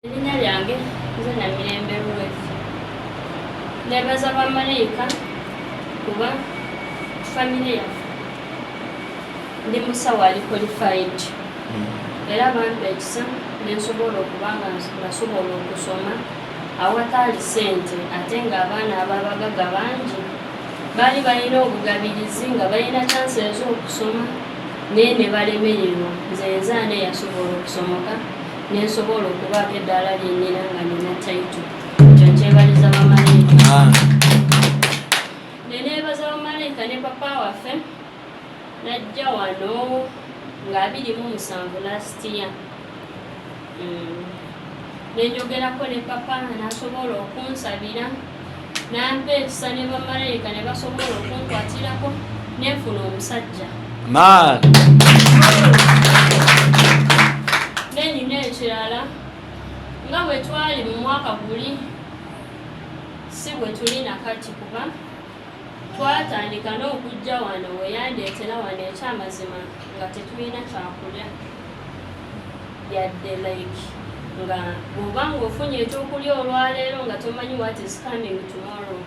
erinnya lyange nze namirembe ruth nebaza bamalayika kuba famire yaffe ndi musawo ali qualified hmm. era bampa ekisa nensobola okuba nga nasobola okusoma awataali sente ate ng'abaana ababagaga bangi baali balina obugabirizi nga balina kyansi ez'okusoma naye ne balemererwa nze nzaana eyasobola okusomoka nensobola okubaako eddaala lyenyina nga nina taito ekyo nkyebaliza bamalayika ah. nenebaza bamalayika ne papa waffe najja wano nga abiri mu musanvu lastiya mm. nenjogerako ne papa nasobola okunsabira N'ampa ekisa ne bamalayika ne basobola okunkwatirako ne nfuna omusajja. Maani! N'enyina ekirala nga bwe twali mu mwaka guli si bwe tuli na kati kuba twatandika n'okujja wano we yandeetera wano ekyamazima nga tetulina kyakulya. yadde like nga bwoba nga ofunye ekyokulya olwaleero nga tomanyi what is coming tomorrow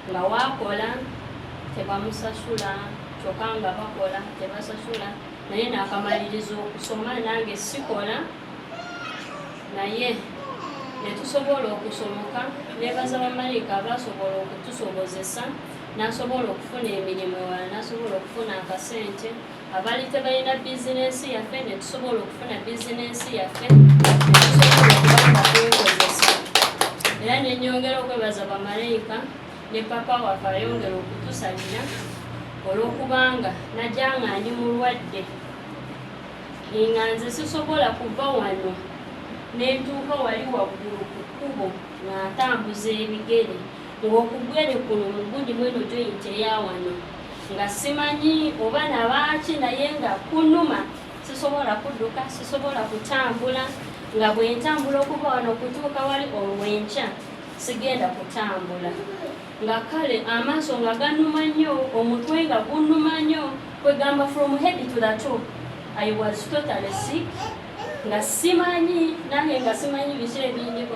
nga wakola tebamusasula kyokka nga bakola tebasasula naye nakamaliriza okusoma nange sikola naye netusobola okusomoka nebaza bamalayika abasobola okutusobozesa nasobola okufuna emirimu wala nasobola okufuna akasente Abali tebalina bizinensi yaffe ne tusobola okufuna bizinensi yaffe netusobola okubanga kwekozesa era nenyongera okwebaza bamalayika ne papa waffe ayongera okutusabira olwokubanga najja nga ndi mulwadde nga nze sisobola kuva wano nentuuka wali waggulu ku kkubo nga ntambuza ebigere ng'okugwere kuno mugundi mweno joint eyawano nga simanyi oba nabaaki naye nga kunuma sisobola kudduka sisobola kutambula nga bwentambula okuva wano okutuuka wali olwenkya sigenda kutambula nga kale amaaso nga ganuma nnyo omutwe nga gunuma nnyo kwegamba from head to the top i was totally sick nga simanyi nange nga simanyi biki ebindiko